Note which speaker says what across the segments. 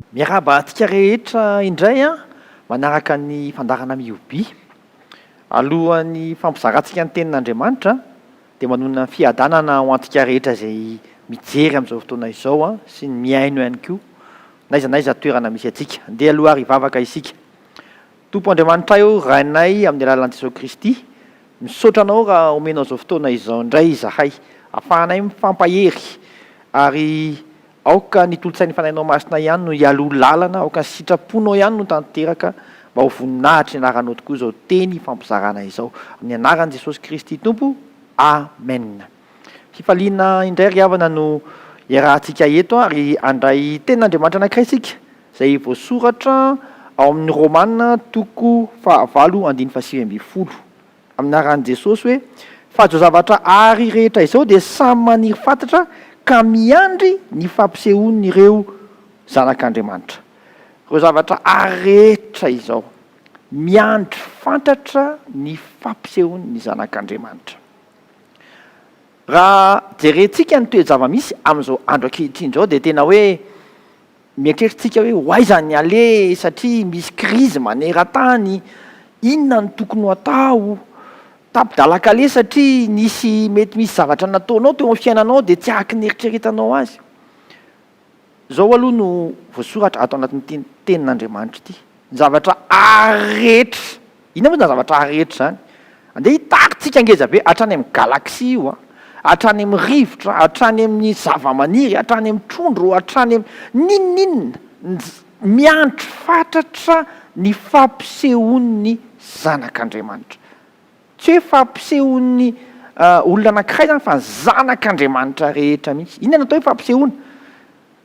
Speaker 1: Miarahaba antsika rehetra indray an! Manaraka ny fandaharana Mihobi. Alohan'ny fampizarantsika ny Tenin'Andriamanitra dia manonona fiadanana ho antsika rehetra izay mijery amin'izao fotoana izao an, sy ny mihaino ihany koa, n'aiza n'aiza toerana misy antsika. Andeha aloha ary hivavaka isika. Tompo Andriamanitray ô Rainay amin'ny alalan'i Jesoa Kristy, misaotra Anao raha omenao izao fotoana izao indray izahay afahanay mifampahery ary aoka ny tolotsain'ny Fanahinao Masina ihany no hialoha lalana, aoka ny sitraponao ihany no tanteraka mba ho voninahitr'ny anaranao tokoa izao teny ifampizarana izao. Amin'ny anaran'i Jesosy Kristy Tompo, Amen. Hifaliana indray ry havana no iarahantsika eto ary handray tenin'Andriamanitra anankiray isika izay voasoratra ao amin'ny Romana toko fahavalo andininy fahasivy ambin'ny folo amin'ny anaran'i Jesosy hoe, Fa izao zavatra àry rehetra izao dia samy maniry fatratra ka miandry ny fampisehoan'ireo zanak'Andriamanitra. Ireo zavatra àry rehetra izao. Miandry fatratra ny fampisehoan'ny zanak'Andriamanitra. Raha jerentsika ny toe-javamisy amin'izao andro ankehitriny izao dia tena hoe mieritreritra isika hoe ho aiza ny aleha satria misy krizy maneran-tany, inona no tokony ho atao? Tapi-dalan-kaleha satria nisy mety misy zavatra nataonao teo amin'ny fiainanao dia tsy ahaky ny eritreretanao azy. Izao aloha no voasoratra ato anatin'ity Tenin'Andriamanitra ity, Ny zavatra haary rehetra. Inona moa izany zavatra haary rehetra izany? Andeha hitarintsika ngeza be, hatrany amin'ny galaxie io an, hatrany amin'ny rivotra, hatrany amin'ny zavamaniry, hatrany amin'ny trondro, hatrany amin'ny n'inon'inona, miandry fatratra ny fampisehoan'ny Zanak'Andriamanitra. Tsy hoe fampisehoan'ny olona anankiray izany fa ny zanak'Andriamanitra rehetra mihitsy. Inona no atao hoe fampisehoana?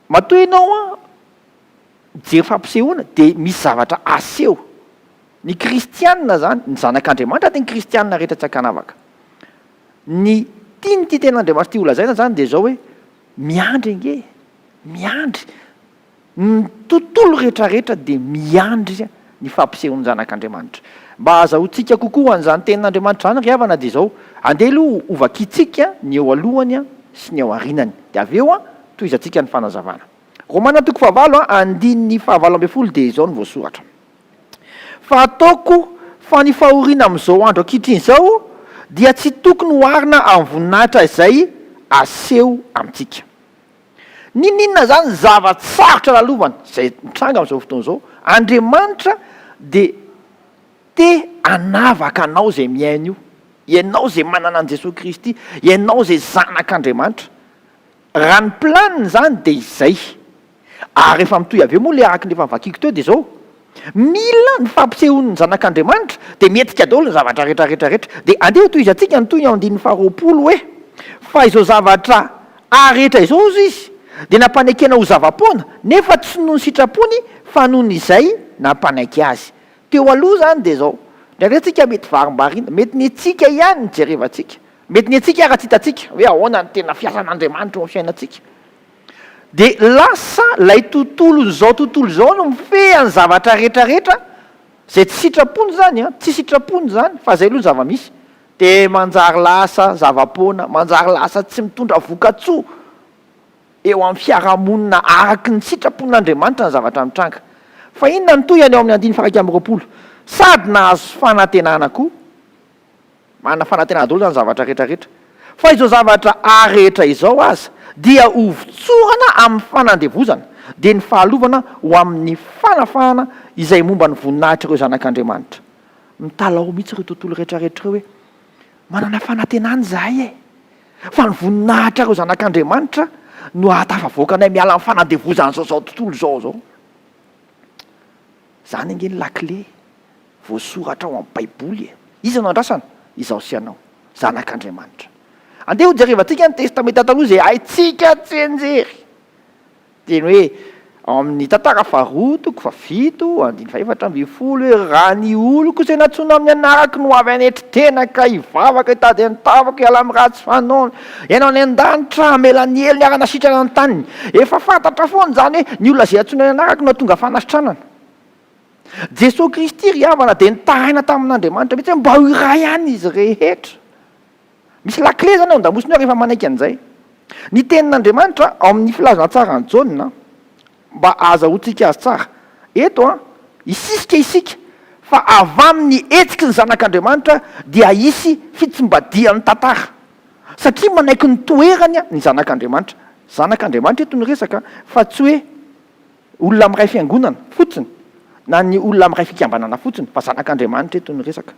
Speaker 1: Matoa ianao mijery fampisehoana dia misy zavatra aseho. Ny kristiana izany, ny zanak'Andriamanitra dia ny kristiana rehetra tsy an-kanavaka. Ny tian'ity tenin'Andriamanitra ity holazaina izany dia izao hoe, miandry ange, miandry. Ny tontolo rehetrarehetra dia miandry ny fampisehoan'ny Zanak'Andriamanitra. Mba hahazahoantsika kokoa an'izany Tenin'Andriamanitra izany ry havana, dia izao, andeha aloha hovakintsika ny eo alohany sy ny eo aorianany, dia avy eo tohizantsika ny fanazavana. Romana toko fahavalo, andininy fahavalo ambin'ny folo dia izao no voasoratra, Fa ataoko fa ny fahoriana amin'izao andro ankehitriny izao dia tsy tokony hoarina amin'ny voninahitra izay aseho amintsika. N'inon'inona izany ny zava-tsarotra lalovany, izay mitranga amin'izao fotoana izao, Andriamanitra dia te hanavaka anao izay mihaino io, ianao izay manana an'i Jesoa Kristy, ianao izay zanak'Andriamanitra. Raha ny planiny izany dia izay. Ary efa mitohy avy eo moa ilay araka ny efa novakiako teo dia izao, Mila ny fampisehoan' ny Zanak' Andriamanitra, dia mihetsika daholo ny zavatra rehetra rehetra rehetra. Dia andeha tohizantsika ny toy ny ao andininy faharoapolo hoe, Fa izao zavatra A rehetra izao, hozy izy, dia nampanekena ho zava-poana, nefa tsy noho ny sitrapony, fa noho ny izay nampanaiky azy. Teo aloha izany dia izao, indraindray tsika mety varimbariana, mety ny antsika ihany no jerevantsika, mety ny antsika ara-tsy hitantsika hoe ahoana ny tena fiasan' Andriamanitra eo amin'ny fiainantsika. Dia lasa ilay tontolon'izao tontolo izao no mifehy an'ny zavatra rehetra rehetra, izay tsy sitrapony izany an, tsy sitrapony izany fa izay aloha ny zava-misy, dia manjary lasa zava-poana, manjary lasa tsy mitondra voka-tsoa eo amin'ny fiarahamonina araka ny sitrapon'Andriamanitra ny zavatra mitranga. Fa inona no tohiny ao amin'ny andininy faha-iraika amby roapolo? Sady nahazo fanantenana koa. Manana fanantenana daholo zany zavatra rehetra rehetra. Fa izao zavatra ary rehetra izao aza dia ho votsorana amin'ny fanandevozana, dia ny fahalovana ho amin'ny fanafahana izay momba ny voninahitr'ireo zanak'Andriamanitra. Mitalaho mihitsy ireo tontolo rehetra rehetra ireo hoe, Manana fanantenana izahay e! Fa ny voninahitr'ireo zanak'Andriamanitra no hahatafavoaka anay miala amin'ny fanandevozan'izao zao tontolo izao zao. Izany ange ny lakile Voasoratra ao amin'ny Baiboly e! Iza no andrasana? Izaho sy ianao, zanak'Andriamanitra. Andeha hojerevantsika ny Testamenta Taloha izay haintsika tsianjery. Teny hoe ao amin'ny Tantara faharoa, toko fahafito, andininy fahefatra ambin'ny folo hoe, Raha ny oloko izay nantsoina amin'ny anarako no avy hanetry tena ka hivavaka hitady ny tavako hiala amin'ny ratsy fanaony, Ianao any an-danitra hamela ny helony ary hanasitrana ny taniny. Efa fantatra foana izany hoe ny olona izay antsoina ny anarako no hahatonga fanasitranana. Jesoa Kristy ry havana dia nitaraina tamin'Andriamanitra mihitsy hoe mba ho iray ihany izy rehetra. Misy lakile izany ao an-damosiny ao rehefa manaiky an'izay. Ny tenin'Andriamanitra ao amin'ny filazantsaran'i Jaona mba ahazahoantsika azy tsara, eto hisisika isika fa avy amin'ny hetsiky ny Zanak'Andriamanitra dia hisy fitsimbadihan'ny tantara satria manaiky ny toerany ny Zanak'Andriamanitra. Zanak'Andriamanitra eto no resaka fa tsy hoe Olona amin'iray fiangonana fotsiny na ny olona amin'iray fikambanana fotsiny fa zanak'Andriamanitra eto ny resaka.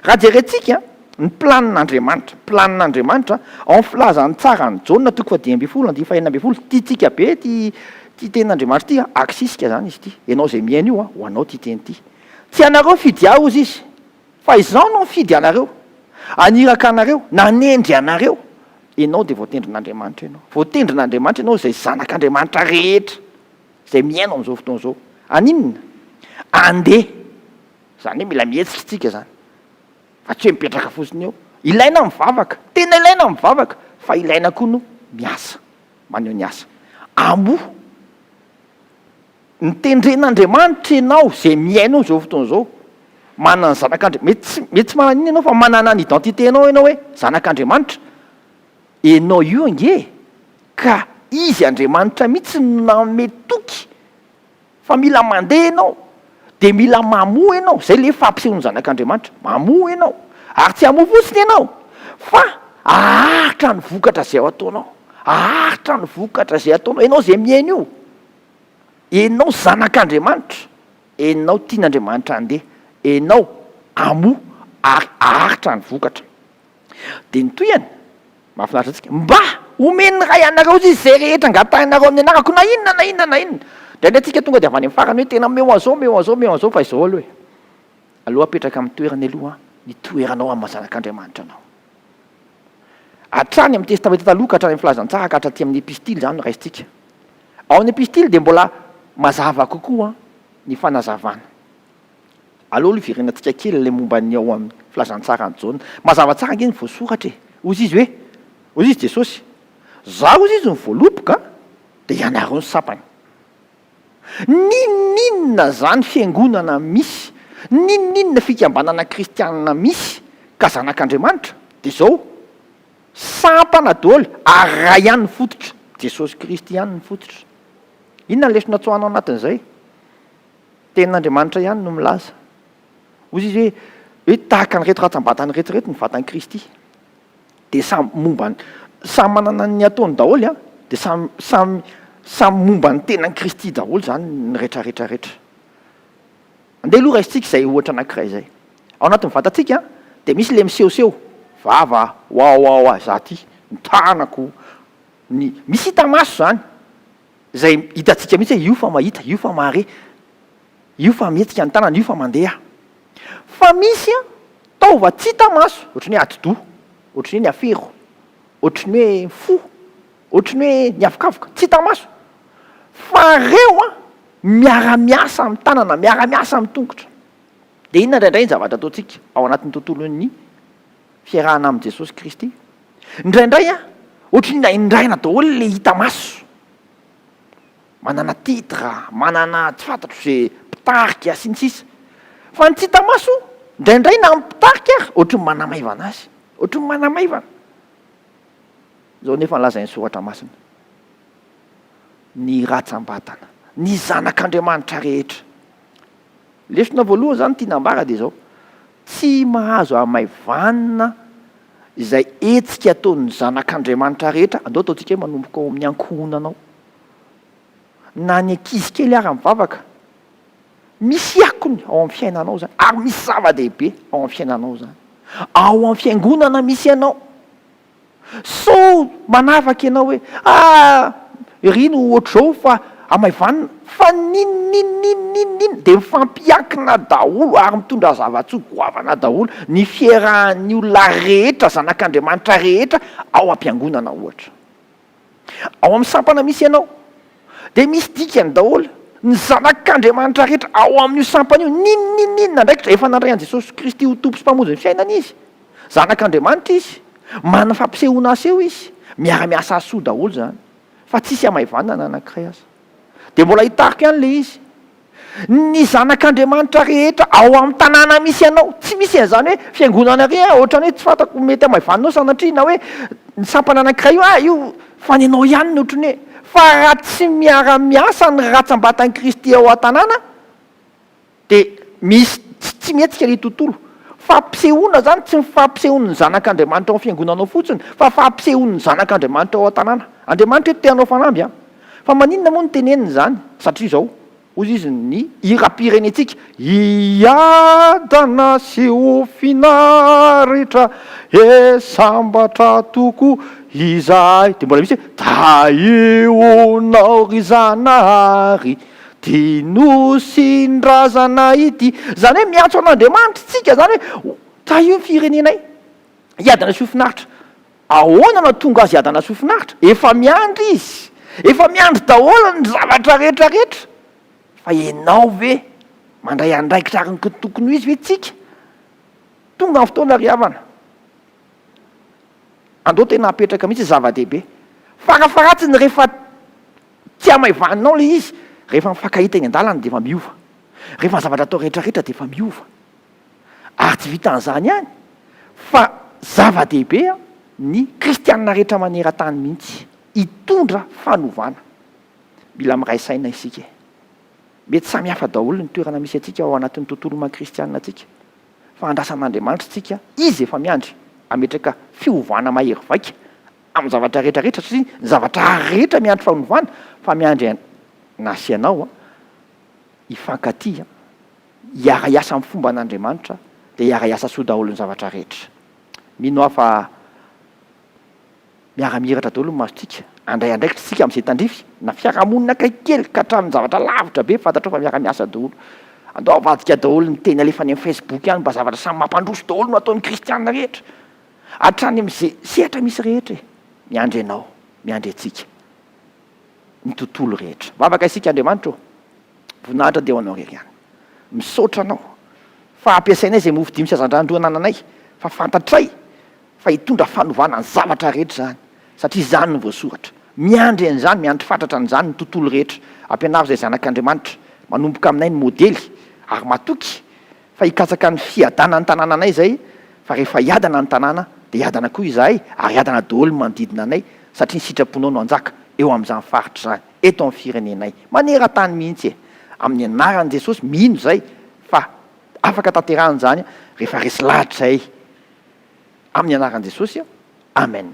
Speaker 1: Raha jerentsika ny planin'Andriamanitra, planin'Andriamanitra ao amin'ny filazan'ny tsara an'i Jaona toko fahadimy ambin'ny folo andinin'ny fahenina ambin'ny folo, tiantsika be ity ity tenin'Andriamanitra ity, aksisika izany izy ity, ianao izay mihaino io ho anao ity teny ity. Tsy ianareo nifidy ahy hozy izy fa izaho no nifidy anareo, haniraka anareo, nanendry anareo Ianao dia voatendrin'Andriamanitra ianao. Voatendrin'Andriamanitra ianao izay zanak'Andriamanitra rehetra izay mihaino amin'izao fotoana izao. Haninona? Andeha. Izany hoe mila mihetsika isika izany. Fa tsy hoe mipetraka fotsiny eo. Ilaina ny mivavaka. Tena ilaina ny mivavaka. Fa ilaina koa ny miasa. Maneho ny asa. Amoha. Ny tendren'Andriamanitra ianao izay mihaino azy izao fotoana izao, manana ny zanak'Andriamanitra. Mety tsy, mety tsy manana an'iny ianao fa manana ny identité-nao ianao hoe zanak'Andriamanitra. Ianao io ange ka Izy Andriamanitra mihitsy no nanome toky fa mila mandeha ianao, dia mila mamoa ianao, izay ilay fampisehoan'ny zanak'Andriamanitra, mamoa ianao. Ary tsy hamoa fotsiny ianao fa haharitra ny vokatra izay ataonao, haharitra ny vokatra izay ataonao, ianao izay mihaino io. Enao zanak'Andriamanitra, enao tian'Andriamanitra handeha, enao amoa ary aharitra ny vokatra. Dia ny tohiny, mahafinaritra antsika, mba omen'ny Ray anareo izy izay rehetra angatahinareo amin'ny anarako, na inona na inona na inona. Indraindray tsika tonga dia avy any amin'ny farany hoe tena omeo an'izao, omeo an'izao, omeo an'izao, fa izao aloha e. Aleo apetraka amin'ny toerany aloha ny toeranao amin'ny maha zanak'Andriamanitra anao. Hatrany amin'ny Testamenta Taloha ka hatrany amin'ny Filazantsara ka hatraty amin'ny Epistily izany no raisintsika. Ao amin'ny epistily dia mbola mazava kokoa ny fanazavana. Aleo aloha iverenantsika kely ilay momba ny ao amin'ny Filazantsaran'i Jaona. Mazava tsara ange ny voasoratra e! Hoy izy hoe, hoy izy Jesosy, Izaho hoy izy no voaloboka, dia ianareo ny sampana. N'inon'inona izany fiangonana misy, n'inon'inona fikambanana kristianina misy ka zanak'Andriamanitra, dia izao, Sampana daholo ary iray ihany ny fototra, Jesosy Kristy ihany ny fototra. Inona ny lesona tsoahina ao anatin'izay? Tenin'Andriamanitra ihany no milaza. Hoy izy hoe, hoe tahaka an'ireto rantsambatana ireto ireto ny vatan'i Kristy. Dia samy momba ny, samy manana ny ataony daholo an, dia samy, samy, samy momba ny tenan'i Kristy daholo izany ny retraretra retra. Andeha aloha raisintsika izay ohatra anankiray izay. Ao anatin'ny vatantsika dia misy ilay misehoseho, vava, wawawa, za ty, ny tanako, ny, misy hita maso izany, izay hitantsika mihitsy hoe io fa mahita, io fa mahare, io fa mihetsika ny tanana, io fa mandeha. Fa misy taova tsy hita maso, ohatry ny hoe atidoha, ohatry ny hoe ny afero, ohatry ny hoe fo, ohatry ny hoe ny avokavoka, tsy hita maso, fa reo miara-miasa amin'ny tanana, miara-miasa amin'ny tongotra. Dia inona indraindray ny zavatra ataontsika ao anatin'ny tontolon'ny fiarahana amin'i Jesosy Kristy? Indraindray ohatry ny naindraina daholo ilay hita maso. Manana titre, manana tsy fantatro izay mpitarika sy ny sisa. Fa ny tsy hita maso indraindray na ny mpitarika ary ohatry ny manamaivana azy, ohatry ny manamaivana. Izao nefa ny lazain'ny Soratra Masina, Ny rantsambatana, ny zanak'Andriamanitra rehetra, Lesona voalohany izany tiana ambara dia izao, tsy mahazo hamaivanina izay hetsika ataon'ny zanak'Andriamanitra rehetra, andao ataontsika hoe manomboka ao amin'ny ankohonana ao, na ny ankizy kely ara mivavaka, misy akony ao amin'ny fiainanao izany, ary misy zava-dehibe ao amin'ny fiainanao izany. Ao amin'ny fiangonana misy ianao. Sao manavaka ianao hoe ah ery no ohatr'izao fa amaivanina. Fa n'inon'inon'inon'inon'inona dia mifampiankina daholo ary mitondra zava-tsoa goavana daholo ny fiherahan'ny olona rehetra, zanak'Andriamanitra rehetra ao am-piangonana ohatra. Ao amin'ny sampana misy ianao dia misy dikany daholo ny zanak'Andriamanitra rehetra ao amin'io sampana io. Ninoninona andraikitra? Efa nandray an'i Jesosy Kristy ho Tompo sy Mpamonjy ny fiainany izy. Zanak'Andriamanitra izy. Manana fampisehoana aseho izy. Miara-miasa aseho daholo izany. Fa tsisy hamaivanana na anankiray aza. Dia mbola hitariko ihany ilay izy. Ny zanak'Andriamanitra rehetra ao amin'ny tanàna misy anao. Tsy misy an'izany hoe fiangonana iry an, ohatran'ny hoe tsy fantako mety hamaivaninao sanatria, na hoe ny sampana anankiray io, ah io fa ny anao ihany no ohatran'ny hoe. Fa raha tsy miara-miasa ny ratsam-batan'i Kristy ao an-tanàna, Dia misy tsy tsy mihetsika ny tontolo. Fampisehoana izany tsy ny fampisehoan'ny zanak'Andriamanitra ao amin'ny fiangonana ao fotsiny fa fampisehoan'ny zanak'Andriamanitra ao an-tanàna. Andriamanitra eto te hanao fanamby an! Fa maninona moa no tenenina izany? Satria izao, hoy izy, ny hiram-pirenentsika, Hiadana sy ho finaritra e sambatra tokoa izahay. Dia mbola misy hoe, Tahianao ry Zanahary. Ty Nosin-drazana ity. Izany hoe miantso an'Andriamanitra isika, izany hoe tahio ny firenenay, hiadana sy ho finaritra. Ahoana no hahatonga azy hiadana sy ho finaritra? Efa miandry izy. Efa miandry daholo ny zavatra rehetra rehetra. Fa ianao ve mandray andraikitra araka ny tokony ho izy ve tsika? Tonga ny fotoana ry havana. Andao tena apetraka mihitsy ny zava-dehibe. Farafaharatsiny rehefa. Tsy hamaivaninao ilay izy. Rehefa mifankahita eny an-dalana dia efa miova. Rehefa ny zavatra atao rehetra rehetra dia efa miova. Ary tsy vitan'izany ihany fa zava-dehibe ny kristianina rehetra maneran-tany mihitsy hitondra fanovana. Mila miray saina isika e. Mety samy hafa daholo ny toerana misy antsika ao anatin'ny tontolo maha kristianina antsika fa andrasan'Andriamanitra isika, Izy efa miandry hametraka fiovana mahery vaika amin'ny zavatra rehetra rehetra satria ny zavatra rehetra miandry fanovana fa miandry an na sy ianao an hifankatia an hiara hiasa amin'ny fomba an'Andriamanitra dia hiara hiasa soa daholo ny zavatra rehetra mino aho fa miara mihiratra daholo ny masontsika handray andraikitra isika amin'izay tandrify na fiarahamonina akaiky kely ka hatramin'ny zavatra lavitra be fantatrao fa miara miasa daholo andao avadika daholo ny teny alefa any amin'ny facebook any mba zavatra samy mampandroso daholo no ataon'ny kristiana rehetra Hatrany amin'izay sehatra misy rehetra e! Miandry anao, miandry antsika, ny tontolo rehetra. Mivavaka isika, Andriamanitra ô! Voninahitra dia ho Anao irery ihany. Misaotra Anao fa ampiasainay izay mofo dimy sy hazandrano roa anananay, fa fantatray fa hitondra fanovana ny zavatra rehetra izany, satria izany no voasoratra. Miandry an'izany, miandry fatratra an'izany ny tontolo rehetra. Ampianaro izay zanak'Andriamanitra, manomboka aminay ny modely, ary matoky Fa hikatsaka ny fiadanan'ny tanàna anay izay, fa rehefa hiadana ny tanàna, dia hiadana koa izahay, ary hiadana daholo ny manodidina anay, satria ny sitraponao no hanjaka, eo amin'izany faritra izany, eto amin'ny firenenay, maneran-tany mihitsy e! Amin'ny anaran'i Jesosy, mino izay, fa afaka tanterahina izany, rehefa resy lahatra izahay, amin'ny anaran'i Jesosy, Amen.